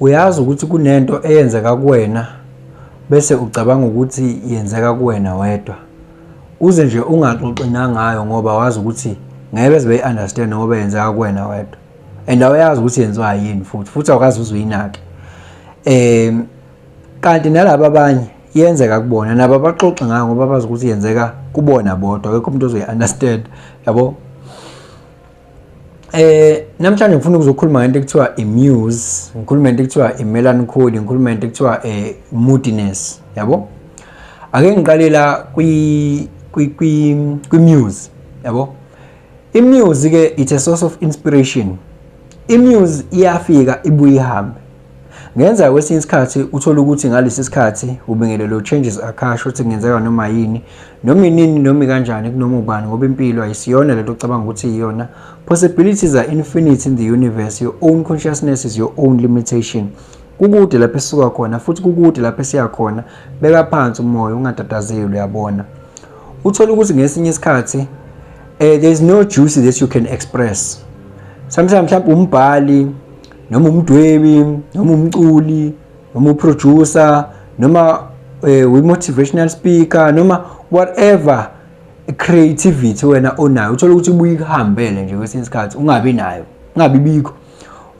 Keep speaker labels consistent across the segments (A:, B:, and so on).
A: Uyazi ukuthi kunento eyenzeka kuwena bese ucabanga ukuthi yenzeka kuwena wedwa. Uze nje ungaxoxi nangayo ngoba wazi ukuthi ngeke beze beyi-understand ngoba yenzeka kuwena wedwa. And awuyazi ukuthi yenziwa yini futhi futhi awukazi uze uyinake. Um kanti nalaba abanye yenzeka kubona nabo abaxoxi ngayo ngoba bazi ukuthi yenzeka kubona bodwa akekho umuntu ozoyi-understand yabo Eh namhlanje ngifuna ukuzokhuluma ngento ekuthiwa imuse, ngikhuluma ngento ekuthiwa imelancholy, ngikhuluma ngento ekuthiwa eh moodiness, yabo? Ake ngiqale la kwi kwi kwi kwimuse, yabo? Imuse ke it's a source of inspiration. Imuse iyafika ibuye ihambe. Ngenzeka kwesinye isikhathi uthole ukuthi ngalesi sikhathi ubingelelo changes akasho ukuthi kungenzeka noma yini noma inini noma kanjani kunoma ubani ngoba impilo ayisiyona lento ocabanga ukuthi iyona possibilities are infinite in the universe your own consciousness is your own limitation kukude lapho esuka khona futhi kukude lapho esiya khona beka phansi umoya ungatatazeli uyabona uthole ukuthi ngesinye isikhathi uh, eh, there is no juice that you can express sometimes mhlawumbe umbhali noma umdwebi noma umculi noma uproducer noma eh, we-motivational speaker noma whatever creativity wena onayo uthola ukuthi ubuye ikuhambele nje kwesinye isikhathi ungabi nayo ungabi bikho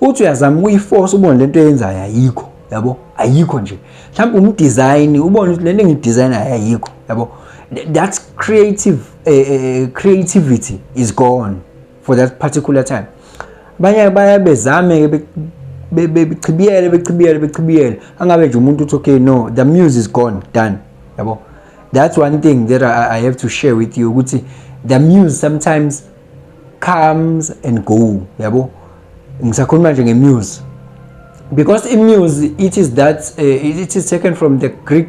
A: uthi uyazama ukuyiforce ubone le nto eyenzayo ayikho yabo ayikho nje mhlawumbe umdesign ubone ukuthi le nto engidesign ayikho yabo that creative uh, creativity is gone for that particular time abanye baye bezame ke bechibiyele bechibiyele bechibiyele angabe nje umuntu uthi okay no the muse is gone done yabo that's one thing that I, I have to share with you ukuthi the muse sometimes comes and go yabo ngisakhuluma nje ngemuse because imuse it is that uh, it is taken from the greek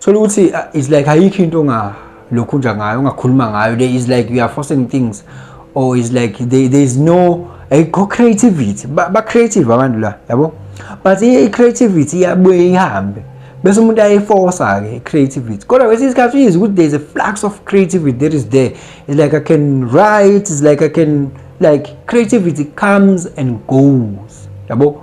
A: Thola ukuthi uh, it's like ayikho into nga lokhu nje ngayo ungakhuluma ngayo there is like you are forcing things or is like there, there is no ayikho creativity ba, ba creative abantu la yabo but i creativity iyabuye ihambe bese umuntu ayeforsa ke creativity kodwa kwesinye isikhathi uyizi ukuthi there is a flux of creativity that is there it's like i can write it's like i can like creativity comes and goes yabo